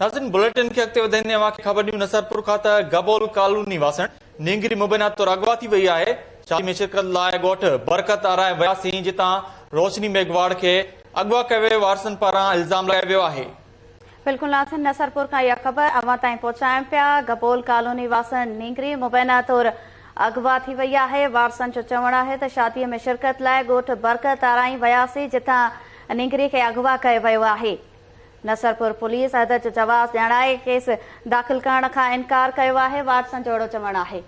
ناظرين بليٽن کي اڳتي وڌائيندي اوهان کي خبر ڏيون نصرپور کان ته گبول ڪالوني واسڻ نينگري مبينا طور اغوا ٿي وئي آهي شادي ۾ شرڪت لاء ڳوٺ برڪت آرائي وياسين جتان روشني ميگهواڙ کي اغوا ڪيو ويو وارثن پاران الزام لڳايو ويو آهي. بلڪل ناظرين نصرپور کان اها خبر اوهان تائين پهچايون پيا گبول ڪالوني واسڻ نينگري مبينا طور اغوا ٿي وئي آهي وارثن جو چوڻ آهي ته شادي ۾ شرڪت لاء ڳوٺ برڪت آرائي وياسين جتان نينگري کي اغوا ڪيو ويو آهي. نصرپور پوليس عھدھ جو جواز ڄاڻائي ڪيس داخل ڪرڻ کان انڪار ڪيو آھي، وارثن جو اھڙو چوڻ آھي.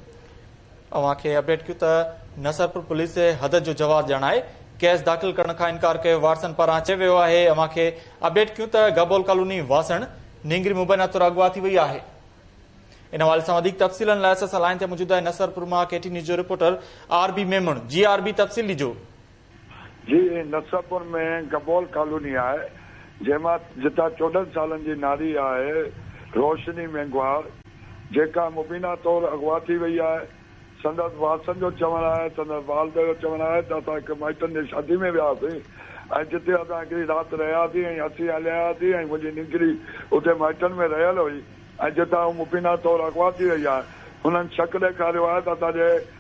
اوھان کي اپڊيٽ ڪيون ته نصرپور پوليس عھدھ جو جواز ڄاڻائي ڪيس داخل ڪرڻ کان انڪار ڪيو وارثن پاران چيو ويو آھي اوھان کي اپڊيٽ ڪيون ته گبول ڪالوني واسڻ نينگري مبينا طور اغوا ٿي وئي آھي ان حوالي سان وڌيڪ تفصيلن لاء اسان سان لائين تي موجود آھي نصرپور مان ڪي ٽي نيوز جو رپورٽر آر بي ميمڻ جي آر بي تفصيل ڏجو. جي نصرپور ۾ گبول ڪالوني آهي، جنهن مان جتان چوڏهن سالن جي ناري آهي روشني مينگهوار، جيڪا مبينا طور اغوا ٿي وئي آهي. سندس وارثن جو چوڻ آهي، سندس والد جو چوڻ آهي ته اسان هڪ مائٽن جي شادي ۾ وياسين ۽ جتي اسان هڪڙي رات رهياسين ۽ اسين هليا آياسين ۽ منهنجي نينگري اتي مائٽن ۾ رهيل هئي ۽ جتان هو مبينا طور اغوا ٿي وئي آهي. هنن شڪ ڏيکاريو آهي ته اسان جي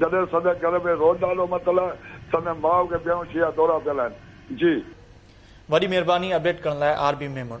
جڏهن سندس گهر ۾ روز نالو متل آهي سندن ماء کي بيهوشي جا دورا پيل آهن جي. وڏي مھرباني اپڊيٽ ڪرڻ لاء آر بي ميمڻ.